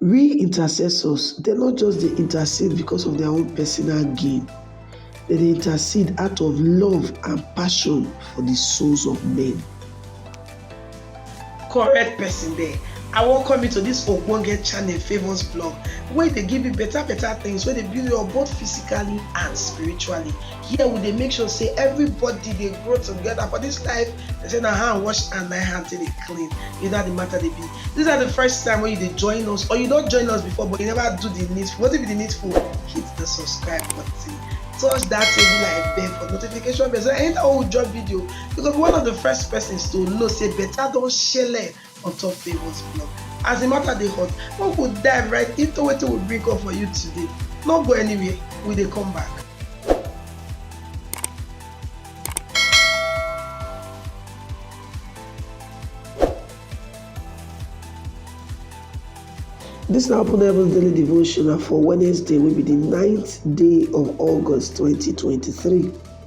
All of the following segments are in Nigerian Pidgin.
Real intercessors dem no just dey intercede because of their own personal gain, dem dey intercede out of love and passion for the souls of men. Correct person there. I welcome you to this ogbonge channel Favours Blog wey dey give you better better things wey dey build you up both physically and spiritually. here we dey make sure say everybody dey grow together for this life they say na hand wash and na hand take dey clean you know how the matter dey be this na the first time wey you dey join us or you don join us before but you never do the needful wetin be the needful hit the subscribe button touch that table like bell for notification bell so anytime we drop video you go be one of the first persons to know say better don shele on top Favour's blog. As the matter dey hot, we go dive right into wetin we bring up for you today. No go anywhere, we dey come back. This na Open Heavens Daily Devotional for Wednesday wey be the ninth day of August 2023.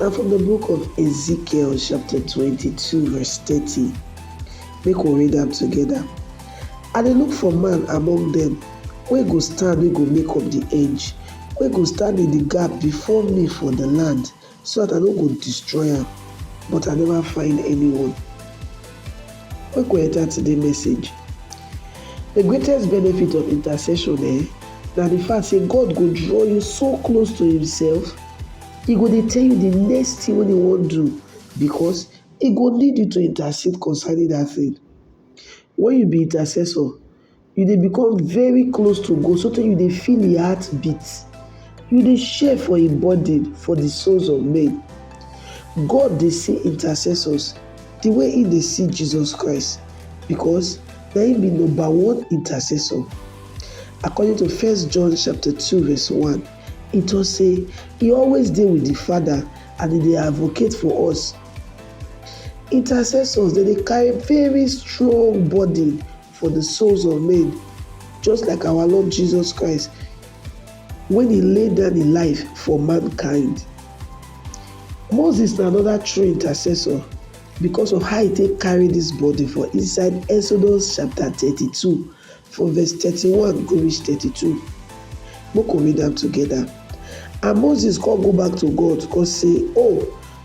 Na from the book of Ezekiel chapter 22 verse 30. Make we read am together. I dey look for man among them wey go stand wey go make up the edge, wey go stand in the gap before me for the land so that I no go destroy am but I never find anyone. Make we enter today message. The greatest benefit of intercession eh, na the fact say God go draw you so close to himself E go dey tell you di next tin wey dem wan do because e go need you to intercede concerning dat tin. Wen you be intercessor, you dey become very close to God so tey you dey feel im heart beat, you dey share for im burden for di souls of men. God dey see intercessors di way im dey see Jesus Christ because na im be number one intercessor according to First John chapter two verse one. He tok say e always dey wit di Father and e dey advocate for us. Intercessors dem dey carry very strong burden for di souls of men just like our Lord Jesus Christ wen e lay down im life for mankind. Moses na anoda true intercessor because of how e take carry dis burden for inside Exodus chapter thirty two from verse thirty-one go reach thirty-two make we read am together and moses come go back to god come say oh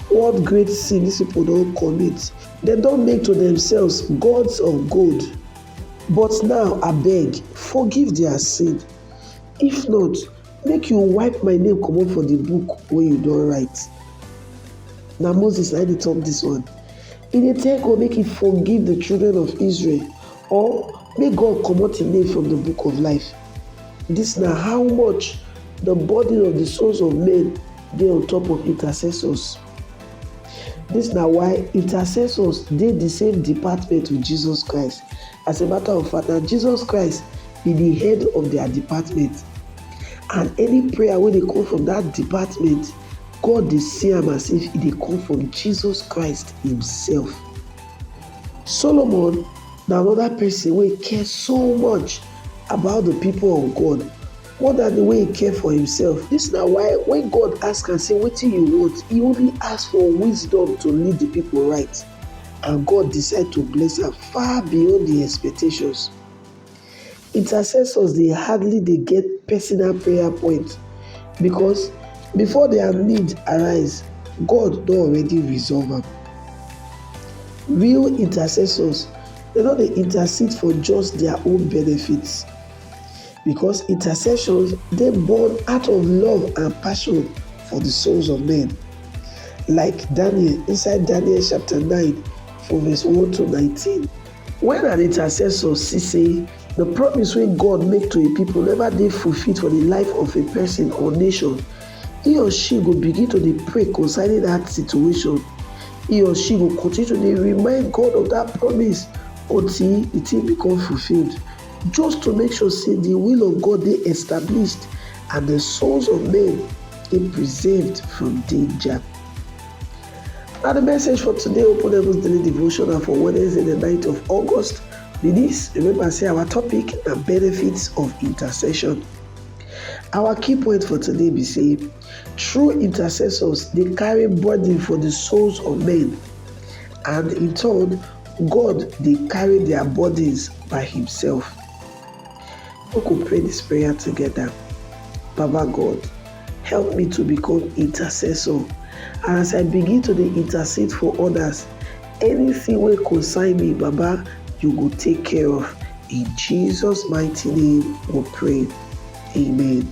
what great sin dis people don commit dem don make to themselves gods of gold but now abeg forgive their sin if not make you wipe my name comot for the book wey you don write na moses na him dey talk this one he dey tell god make he forgive the children of israel Or make God comot him name from the book of life. Dis na how much the burden of the souls of men dey on top of intercessors. Dis na why intercessors dey the same department with Jesus Christ. As a matter of fact, na Jesus Christ be the head of their department. And any prayer wey dey come from that department, God dey see am as if e dey come from Jesus Christ himself. Solomon na anoda pesin wey care so much about di pipo of God more dan di way e care for imsef. Dis na why wen God ask am sey wetin you want, e only ask for wisdom to lead di pipo right and God decide to bless am far beyond im expectations. Intercessors dey hardly dey get personal prayer point because before their need arise, God don already resolve am. Real intercessors dem no dey intercede for just their own benefits because intercessions dey born out of love and passion for the souls of men like Daniel inside Daniel chapter nine from verse one to nineteen. Wen her intercessor see sey di promise wey God make to im pipo neva dey fulfilled for di life of a pesin or nation, he or she go begin to dey pray concerning dat situation. He or she go continue to dey remind God of dat promise until di tin become fulfilled, just to make sure sey di will of God dey established and di souls of men dey preserved from danger. Na the message for today Open Heavens Daily Devotional for Wednesday, the 9th of August. Be this. Remember, say our topic na benefits of intercession. Our key point for today be say true intercessors dey carry burden for the souls of men, and in turn, God dey carry their burdens by Himself. Make we pray dis prayer togeda, Baba God, help me to become intercessor and as I begin to dey intercede for odas, anytin wey concern me Baba you go take care of in Jesus mighty name we pray, amen.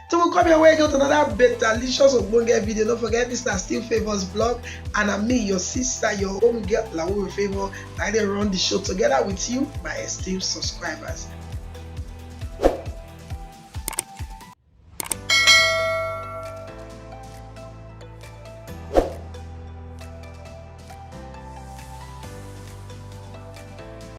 Till we come your way again with another betalicious ogbonge video. Don't forget this na still favours blog and na me your sister your home girl Lawo Favour na I dey run the show together with you my esteemed subscribers.